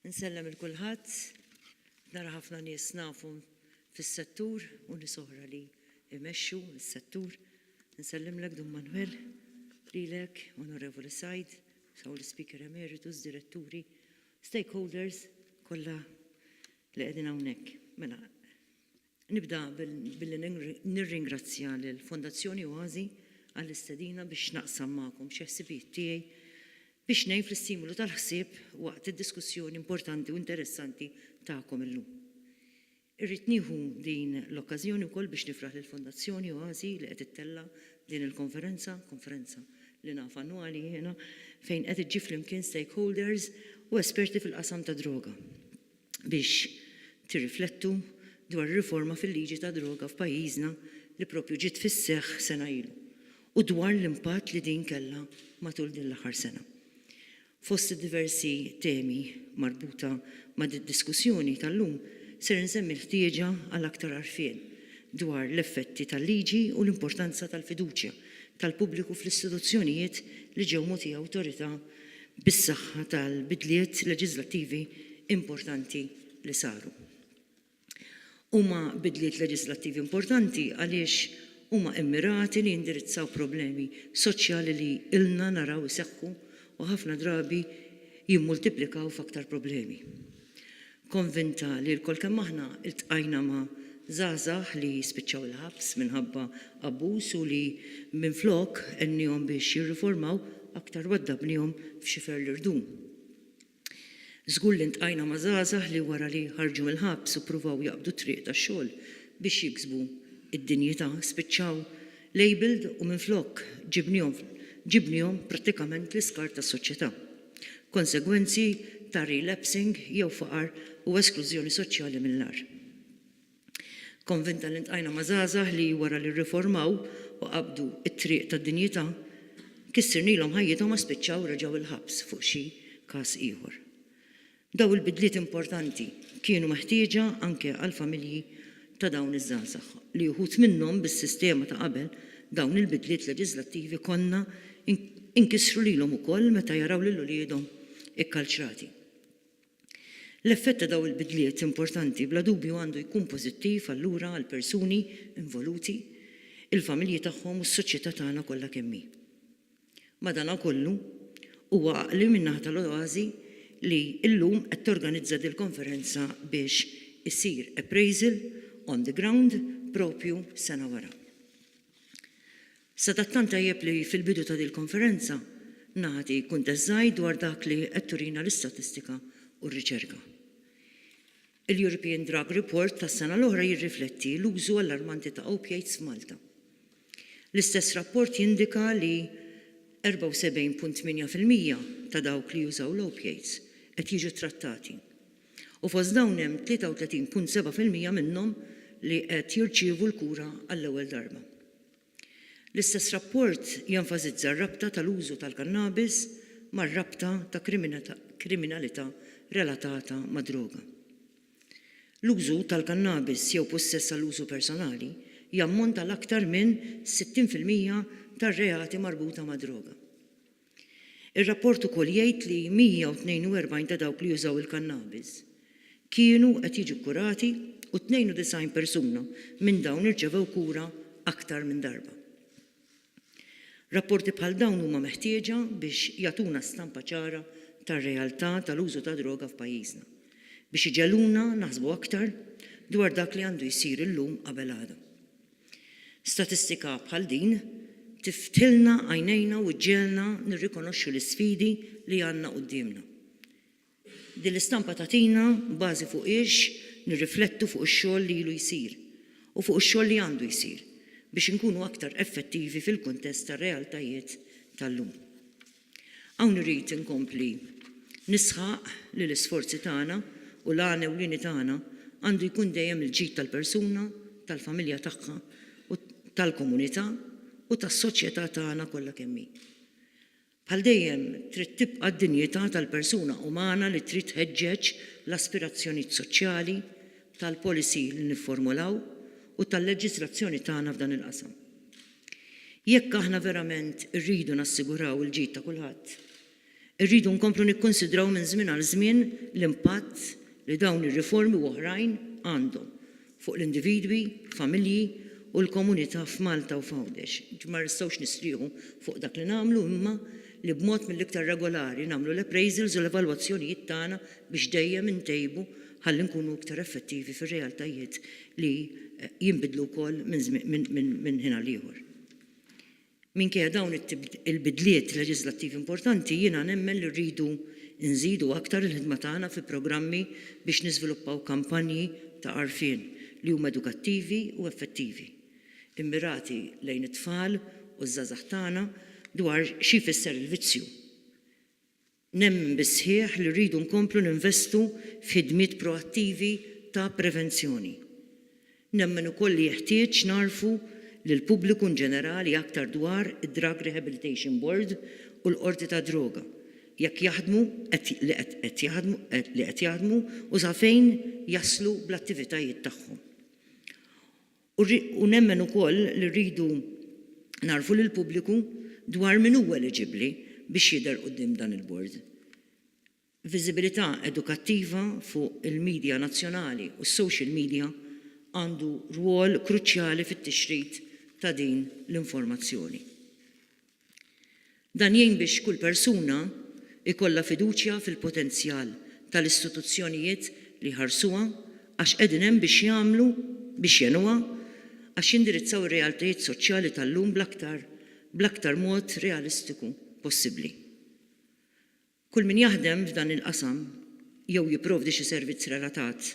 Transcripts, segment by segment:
Insellem il kulħadd, nara ħafna nies nafhom fis-settur u nies oħra li jmexxu s-settur. Nsellimlek Dun Manwel, lilek, Onorevoli Said, saw l-Speaker Emeritus, Diretturi, stakeholders kollha li qegħdin hawnhekk. Mela, Nibda billi nirringrazzja lill-Fondazzjoni Oasi għall-istedina biex naqsam magħkom xi ħsibijiet tiegħi biex ngħin fl-istimolu tal-ħsieb waqt id-diskussjoni importanti u interessanti tagħkom illum. Irrid nieħu din l-okkażjoni wkoll biex nifraħ lill-Fondazzjoni Oasi li qed ittella' din il-konferenza, konferenza li naf annwali jiena, fejn qed iġġib flimkien stakeholders u esperti fil-qasam tad-droga. biex tirriflettu dwar ir-riforma fil-liġi tad-droga f'pajjiżna li proprju ġiet fis-seħħ sena ilu u dwar l-impatt li din kellha matul din l-aħħar sena. Fost id-diversi temi marbuta ma' did-diskussjoni tal-lum ser insemmi l-ħtieġa għal aktar għarfien dwar l-effetti tal-liġi u l-importanza tal-fiduċja tal-pubbliku fl-istituzzjonijiet li ġew mogħtija awtorità bis-saħħa tal-bidliet leġiżlattivi importanti li saru. Huma bidliet leġiżlattivi importanti għaliex huma immirati li jindirizzaw problemi soċjali li ilna naraw iseħħu u ħafna drabi jimmultiplikaw f'aktar problemi. Konvinta li lkoll kemm aħna ltqajna ma' żgħażagħ li spiċċaw il-ħabs minħabba abbuż u li minflok għennihom biex jirriformaw, aktar waddabnihom f'xifer li rdum. Żgur li ltqajna ma' żgħażagħ li wara li ħarġu mill-ħabs u ppruvaw jaqbdu t-triq tax-xogħol biex jiksbu d-dinjità, spiċċaw labelled u minflok ġibnihom ġibnihom prattikament l-iskart tas-soċjetà. konsegwenzi ta' relapsing jew faqar u esklużjoni soċjali mill-agħar. Konvinta li ltqajna ma' żgħażagħ li wara li rriformaw u qabdu t-triq tad-dinjità, kissirnilhom ħajjithom ma spiċċaw reġgħu l-ħabs fuq xi każ ieħor. Dawn il-bidliet importanti kienu meħtieġa anke għall-familji ta' dawn iż-żgħażagħ, li uħud minnhom bis-sistema ta' qabel dawn il-bidliet leġiżlattivi konna inkissru lilhom ukoll meta jaraw lil uliedhom ikkalċrati. L-effett ta' dawn il-bidliet importanti bla dubju għandu jkun pożittiv allura għall-persuni involuti, il-familji tagħhom u s-soċjetà tagħna kollha kemm hi. Madanakollu, huwa għaqli min-naħa tal-OASI li llum qed torganizza dil-konferenza biex isir appraisal on the ground propju sena wara. Sadattant tajjeb li fil-bidu ta' dil-konferenza nagħti kuntest żgħir dwar dak li qed turina l-istatistika u r-riċerka. Il-European Drug Report tas-sena l-oħra jirrifletti l-użu allarmanti ta' opiates f'Malta. L-istess rapport jindika li 74.8 fil-mija ta' dawk li jużaw l-opiates qed jiġu ttrattati u fost dawn hemm 33.7 fil-mija minnhom li qed jirċievu l-kura għall-ewwel darba. L-istess rapport jenfasizza r-rabta tal-użu tal-kannabis mar-rabta ta' kriminalità relatata mad-droga. L-użu tal-kannabis jew pussess għall-użu personali jammonta għal aktar minn 60 fil-mija tar-reati marbuta mad-droga. Ir-rapport ukoll jgħid li 142 ta' dawk li użaw il-kannabis kienu qed jiġu kkurati u 92 persuna minn dawn irċevew kura aktar minn darba. Rapporti bħal dawn huma meħtieġa biex jagħtuna stampa ċara tar-realtà tal-użu tad-droga f'pajjiżna, biex iġegħluna naħsbu aktar dwar dak li għandu jsir illum qabel għada. Statistika bħal din tiftilna għajnejna u ġġegħelna nirrikonoxxu l-isfidi li għandna quddiemna. Din l-istampa tagħtina bażi fuqhiex nirriflettu fuq ix-xogħol li ilu jsir u fuq ix-xogħol li għandu jsir biex inkunu aktar effettivi fil-kuntest tar-realtajiet tal-lum. Hawn irrid inkompli nisħaq li l-isforzi tagħna u l-għan ewlieni tagħna għandu jkun dejjem il-ġid tal-persuna, tal-familja tagħha, tal-komunità u tas-soċjetà tagħna kollha kemm hi. Bħal dejjem, trid tibqa' d-dinjità tal-persuna umana li trid tħeġġeġ l-aspirazzjonijiet soċjali tal-policy li nifformulaw u tal-leġiżlazzjoni tagħna f'dan il-qasam. Jekk aħna verament irridu nassiguraw il-ġid ta' kulħadd, irridu nkomplu nikkunsidraw minn żmien għal żmien l-impatt li dawn ir-riformi u oħrajn għandhom fuq l-individwi, familji u l-komunità f'Malta u f'Għawdex. Ma nistgħux nistrieħu fuq dak li nagħmlu imma li b'mod mill-iktar regolari nagħmlu l-appraisals u l-evalwazzjonijiet tagħna biex dejjem intejbu ħalli nkunu iktar effettivi fir-realtajiet li jinbidlu wkoll minn ħin għal ieħor. Minkejja dawn il-bidliet leġiżlattivi importanti, jiena nemmen li rridu nżidu aktar il-ħidma tagħna fi programmi biex niżviluppaw kampanji ta' għarfien li huma edukattivi u effettivi, immirati lejn it-tfal u ż-żgħażagħ tagħna dwar xi jfisser il-vizzju. Nemmen bis-sħiħ li rridu nkomplu ninvestu f'ħidmiet proattivi ta' prevenzjoni. Nemmen ukoll li jeħtieġ ngħarrfu lill-pubbliku inġenerali aktar dwar id-Drug Rehabilitation Board u l-Qorti tad-Droga, jekk jaħdmu, li qed jaħdmu u sa fejn jaslu bl-attivitajiet tagħhom. U nemmen ukoll li rridu ngħarrfu lill-pubbliku dwar min huwa eliġibbli biex jidher quddiem dan il-Bord. Viżibilità edukattiva fuq il-midja nazzjonali u s-social media għandu rwol kruċjali fit-tixrid ta' din l-informazzjoni. Dan jgħin biex kull persuna jkollha fiduċja fil-potenzjal tal-istituzzjonijiet li jħarsuha għax qegħdin hemm biex jagħmlu biex jgħinuha għax jindirizzaw ir-realtajiet soċjali tal-lum bl-aktar bl-aktar mod realistiku possibbli. Kull min jaħdem f'dan il-qasam jew jipprovdi xi servizz relatat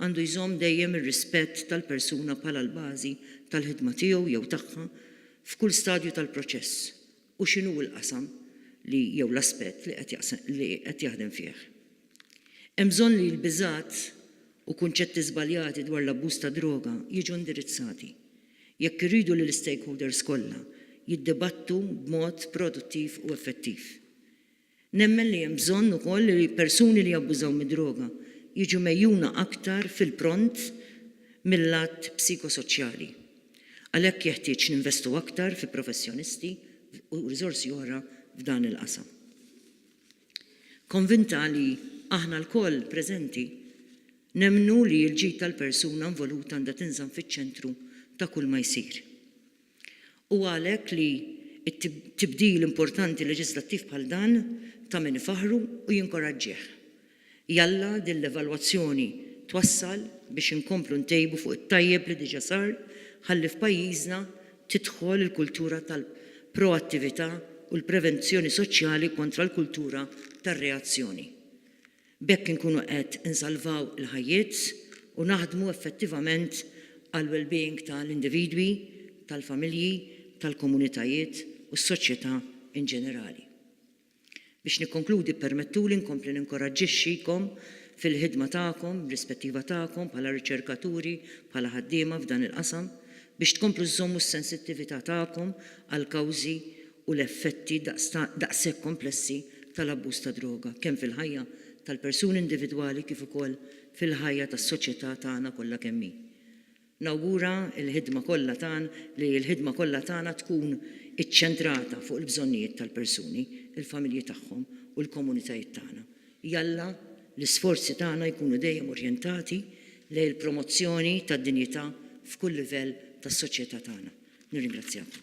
għandu jżomm dejjem ir-rispett tal-persuna bħala l-bażi tal-ħidma tiegħu jew tagħha f'kull stadju tal-proċess u x'inhu l-qasam li jew l-aspett li qed li qed jaħdem fih. Hemm bżonn li l-biżgħat u kunċetti żbaljati dwar l-abbuż tad-droga jiġu indirizzati jekk irridu li l-istakeholders kollha jiddibattu b'mod produttiv u effettiv. Nemmen li hemm bżonn ukoll li persuni li jabbużaw mid-droga jiġu megħjuna aktar fil-pront mil-lat psikosoċjali. Għalhekk jeħtieġ ninvestu aktar fi professjonisti u riżorsi oħra f'dan il-qasam. Konvinta li aħna lkoll preżenti nemmnu li l-ġid tal-persuna involuta għandha tinżamm fiċ-ċentru ta' kulma jsir. Hu għalhekk li tibdil importanti leġislattiv bħal dan ta' min ifaħħru u jinkoraġġih. Jalla din l-evalwazzjoni twassal biex inkomplu ntejbu fuq it-tajjeb li diġa sar ħalli f'pajjiżna tidħol il-kultura tal-proattività u l-prevenzjoni soċjali kontra l-kultura tar-reazzjoni. B'hekk inkunu qed insalvaw il-ħajjiet u naħdmu effettivament għall-wellbeing ta' l-individwi, tal-familji, tal-komunitajiet u s-soċjetà in ġenerali. Biex nikkonkludi ppermettuli nkompli ninkoraġġixxikom fil-ħidma tagħkom, bl-ispettiva tagħkom bħala riċerkaturi, bħala ħaddiema f'dan il-qasam, biex tkomplu żżommu s-sensittività tagħkom għall-kawżi u l-effetti daqshekk komplessi tal-abbuż tad-droga, kemm fil-ħajja tal-persuni individwali kif ukoll fil-ħajja tas-soċjetà tagħna kollha kemm hi. Nawgura l-ħidma kollha tagħn li l-ħidma kollha tagħna tkun iċċentrata fuq il-bżonnijiet tal-persuni, il-familji tagħhom u l-komunitajiet tagħna. Jalla l-isforzi tagħna jkunu dejjem orjentati lejn il-promozzjoni tad-dinjità f'kull livell tas-soċjetà tagħna. Nirringrazzjakom.